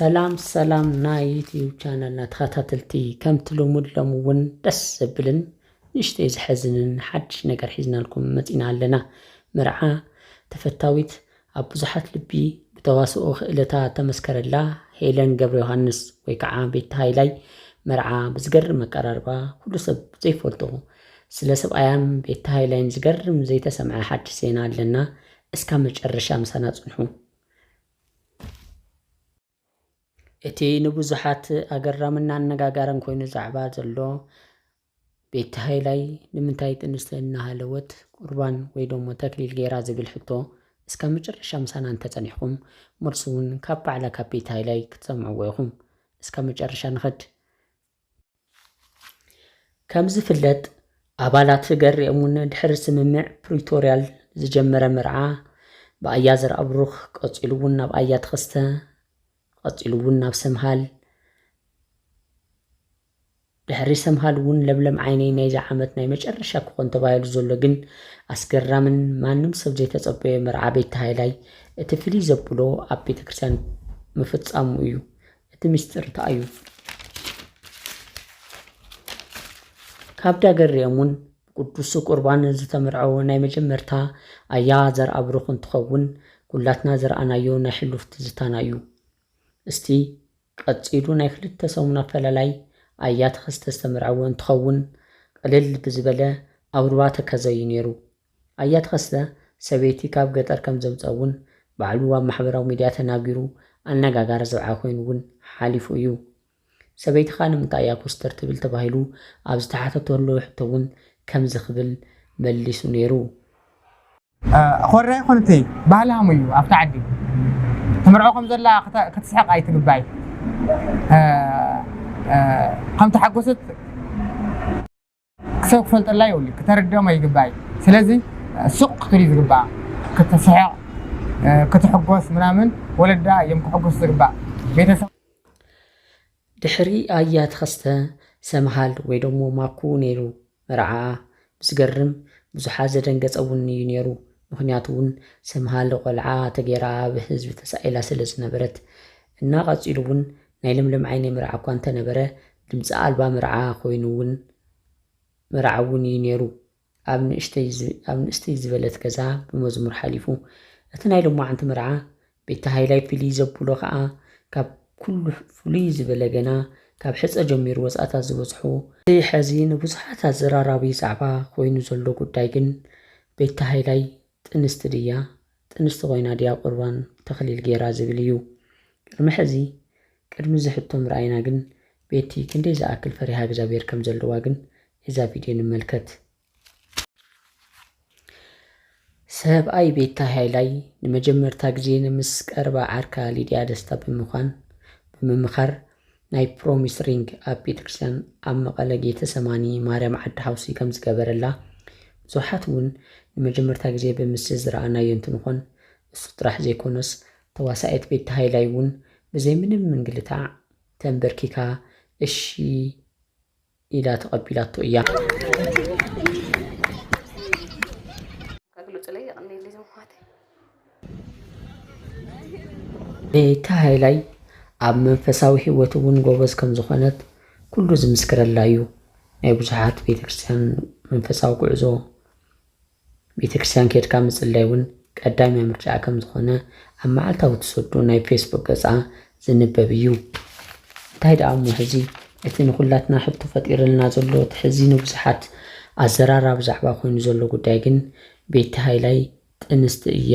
ሰላም ሰላም ናይ ዩትዩብ ቻነልና ተኸታተልቲ ከምቲ ልሙድ ሎሚ እውን ደስ ዘብልን ንእሽተይ ዘሐዝንን ሓድሽ ነገር ሒዝናልኩም መፂና ኣለና መርዓ ተፈታዊት ኣብ ብዙሓት ልቢ ብተዋስኦ ክእለታ ተመስከረላ ሄለን ገብረ ዮሃንስ ወይ ከዓ ቤት ሃይላይ መርዓ ብዝገርም ኣቀራርባ ኩሉ ሰብ ዘይፈልጦ ስለ ሰብኣያን ቤት ሃይላይን ዝገርም ዘይተሰምዐ ሓድሽ ዜና ኣለና እስካ መጨረሻ ምሳና ፅንሑ እቲ ንብዙሓት ኣገራምን ኣነጋጋርን ኮይኑ ዛዕባ ዘሎ ቤቲ ሃይላይ ንምንታይ ጥንስቲ እናሃለወት ቁርባን ወይ ደሞ ተክሊል ገይራ ዝብል ሕቶ እስከ መጨረሻ ምሳና እንተጸኒሕኩም መልሱ እውን ካብ ባዕላ ካብ ቤቲ ሃይላይ ክትሰምዕዎ ኢኹም። እስከ መጨረሻ ንኸድ። ከምዝፍለጥ ኣባላት ህገርም እውን ድሕሪ ስምምዕ ፕሪቶርያል ዝጀመረ መርዓ ብኣያ ዘርኣብሩኽ ቀፂሉ እውን ናብ ኣያ ተኸስተ ቀፂሉ እውን ናብ ሰምሃል ድሕሪ ሰምሃል እውን ለምለም ዓይነይ ናይዚ ዓመት ናይ መጨረሻ ክኾን ተባሂሉ ዘሎ ግን ኣስገራምን ማንም ሰብ ዘይተጸበዮ መርዓ ቤት ሃይላይ እቲ ፍልይ ዘብሎ ኣብ ቤተ ክርስቲያን ምፍጻሙ እዩ። እቲ ምስጢር እንታይ'ዩ? ካብ ዳገርዮም'ውን ብቅዱስ ቁርባን ዝተመርዐወ ናይ መጀመርታ ኣያ ዘርኣብሩኽ እንትኸውን ኩላትና ዝረኣናዮ ናይ ሕሉፍ ትዝታና'ዩ። እስቲ ቀጺሉ ናይ ክልተ ሰሙን ኣፈላላይ ኣያ ተኸስተ ዝተመርዐወ እንትኸውን ቅልል ብዝበለ ኣብ ሩባ ተከዘ'ዩ ነይሩ። ኣያ ተኸስተ ሰበይቲ ካብ ገጠር ከም ዘምጽኣ እውን ባዕሉ ኣብ ማሕበራዊ ሚድያ ተናጊሩ ኣነጋጋሪ ዘብዓ ኮይኑ እውን ሓሊፉ እዩ። ሰበይትኻ ንምንታይ እያ ኮስተር ትብል ተባሂሉ ኣብ ዝተሓተተሉ ሕቶ እውን ከምዚ ክብል መሊሱ ነይሩ። ኮረ ኣይኮነተይ ባህሊ ሃሙ እዩ ኣብቲ ዓዲ ትምርዖ ከም ዘላ ክትስሕቕ ኣይትግባይ ከም ተሓጎሰት። ሰብ ክፈልጠላ የብሉን ክተርድኦም ኣይግባእ እዩ ስለዚ ሱቅ ክትብል እዩ ዝግባኣ ክትስሕቅ ክትሕጎስ ምናምን ወለዳ እዮም ክሕጉሱ ዝግባእ ቤተሰብ ድሕሪ ኣያ ተኸስተ ሰምሃል ወይ ደሞ ማኩ ነይሩ መርዓኣ ብዝገርም ብዙሓት ዘደንገጸ ውን እዩ ነይሩ ምኽንያቱ ውን ሰምሃል ቆልዓ ተገይራ ኣብ ህዝቢ ተሳኢላ ስለ ዝነበረት እና ቀጺሉ ውን ናይ ለምለም ዓይነይ መርዓ እኳ እንተ ነበረ ድምጺ ኣልባ መርዓ ኮይኑ ውን መርዓ ውን እዩ ኔሩ ኣብ ንእሽተይ ኣብ ንእስትይ ዝበለት ገዛ ብመዝሙር ሓሊፉ እቲ ናይ ሎማዓንቲ መርዓ ቤታ ሃይላይ ፍልይ ዘብሎ ከኣ ካብ ኩሉ ፍሉይ ዝበለ ገና ካብ ሕጸ ጀሚሩ ወጻእታት ዝበዝሑ እቲ ሐዚ ንብዙሓት ኣዘራራቢ ዛዕባ ኮይኑ ዘሎ ጉዳይ ግን ቤታ ሃይላይ ጥንስቲ ድያ ጥንስቲ ኮይና ድያ ቁርባን ተክሊል ጌራ ዝብል እዩ ቅድሚ ሕዚ ቅድሚ እዚ ሕቶ ምርኣይና ግን ቤቲ ክንደይ ዝኣክል ፈሪሃ እግዚኣብሔር ከም ዘለዋ ግን እዛ ቪድዮ ንመልከት። ሰብኣይ ቤታ ሃይላይ ንመጀመርታ ግዜ ንምስ ቀረባ ዓርካ ሊድያ ደስታ ብምዃን ብምምኻር ናይ ፕሮሚስ ሪንግ ኣብ ቤተክርስትያን ኣብ መቐለ ጌተሰማኒ ማርያም ዓዲ ሓውሲ ከም ዝገበረላ ብዙሓት እውን ንመጀመርታ ግዜ ብምስሊ ዝረኣናዮ እንትንኾን እሱ ጥራሕ ዘይኮነስ ተዋሳኢት ቤቲ ሃይላይ እውን ብዘይ ምንም ምንግልታዕ ተምበርኪካ እሺ ኢላ ተቐቢላቶ እያ። እቲ ሃይላይ ኣብ መንፈሳዊ ህይወት እውን ጎበዝ ከም ዝኾነት ኩሉ ዝምስክረላ እዩ። ናይ ብዙሓት ቤተ ክርስቲያን መንፈሳዊ ጉዕዞ ቤተክርስትያን ኬድካ ምጽላይ ውን ቀዳምያ ምርጫኣ ከም ዝኾነ ኣብ መዓልታዊ ትሰዶ ናይ ፌስቡክ ገጻ ዝንበብ እዩ። እንታይ ደኣ እሞ ሕዚ እቲ ንኹላትና ሕቶ ፈጢርልና ዘሎ እቲ ሕዚ ንብዙሓት ኣዘራራቢ ዛዕባ ኮይኑ ዘሎ ጉዳይ ግን ቤቲ ሃይላይ ጥንስቲ እያ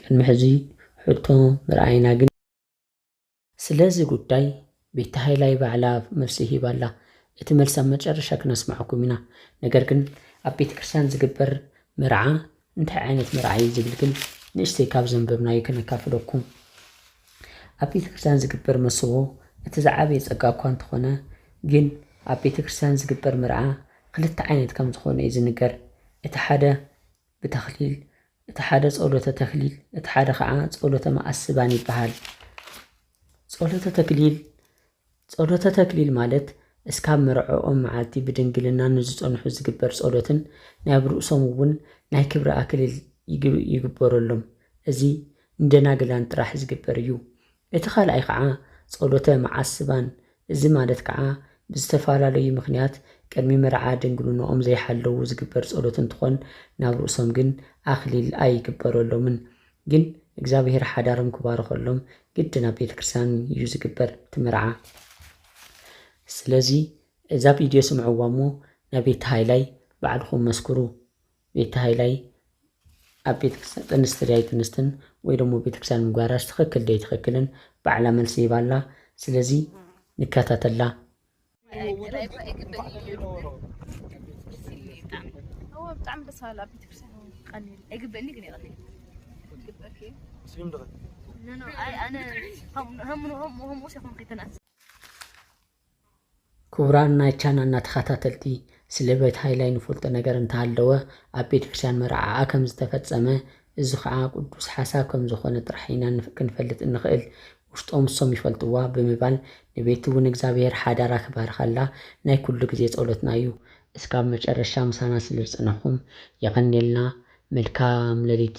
ቅድሚ ሕዚ ሕቶ ምርኣይና ግን ስለዚ ጉዳይ ቤቲ ሃይላይ ባዕላ መልሲ ሂባ ኣላ እቲ መልሲ ኣብ መጨረሻ ክነስመዐኩም ኢና ነገር ግን ኣብ ቤተ ክርስትያን ዝግበር መርዓ እንታይ ዓይነት መርዓ እዩ ዝብል ግን ንእሽተይ ካብ ዘንበብናዩ ክነካፍለኩም ኣብ ቤተ ክርስትያን ዝግበር መስዎ እቲ ዝዓበየ ጸጋ እኳ እንተኾነ ግን ኣብ ቤተ ክርስትያን ዝግበር መርዓ ክልተ ዓይነት ከም ዝኾነ እዩ ዝንገር እቲ ሓደ ብተክሊል፣ እቲ ሓደ ጸሎተ ተክሊል፣ እቲ ሓደ ኸኣ ጸሎተ መኣስባን ይበሃል። ጸሎተ ተክሊል ጸሎተ ተክሊል ማለት እስካብ መርዐኦም መዓልቲ ብድንግልና ንዝጸንሑ ዝግበር ጸሎትን ናይ ኣብ ርእሶም እውን ናይ ክብሪ ኣክሊል ይግበረሎም። እዚ ንደናግላን ጥራሕ ዝግበር እዩ። እቲ ካልኣይ ከኣ ጸሎተ መዓስባን እዚ ማለት ከኣ ብዝተፋላለዩ ምኽንያት ቅድሚ መርዓ ድንግሉኖኦም ዘይሓለዉ ዝግበር ጸሎት እንትኾን ናብ ርእሶም ግን ኣኽሊል ኣይግበረሎምን ግን እግዚኣብሔር ሓዳሮም ክባርኸሎም ግድን ኣብ ቤተ ክርስቲያን እዩ ዝግበር እቲ መርዓ ስለዚ እዛ ቪድዮ ስምዕዋ እሞ ነቤቲ ሃይላይ ባዕልኹም መስክሩ ቤቲ ሃይላይ ኣብ ቤተክርስትያን ጥንስቲ ድያ ኣይትንስትን ወይ ደሞ ቤተክርስትያን ምግባራስ ትክክል ዶ ኣይትክክልን ባዕላ መልሲ ሂባ ኣላ ስለዚ ንከታተላ። ክቡራን ናይ ቻናልና ተኸታተልቲ ስለ ቤት ሃይላይ ንፈልጦ ነገር እንተሃለወ ኣብ ቤት ክርስትያን መርዓኣ ከም ዝተፈጸመ እዚ ኸኣ ቅዱስ ሓሳብ ከም ዝኾነ ጥራሕ ኢና ክንፈልጥ እንኽእል ውሽጦም እሶም ይፈልጥዋ ብምባል ንቤቲ እውን እግዚኣብሔር ሓዳራ ክባርኸላ ናይ ኩሉ ግዜ ጸሎትና እዩ። እስካብ መጨረሻ ምሳና ስለ ዝጸናሕኩም የቀንየልና መልካም ለሊት።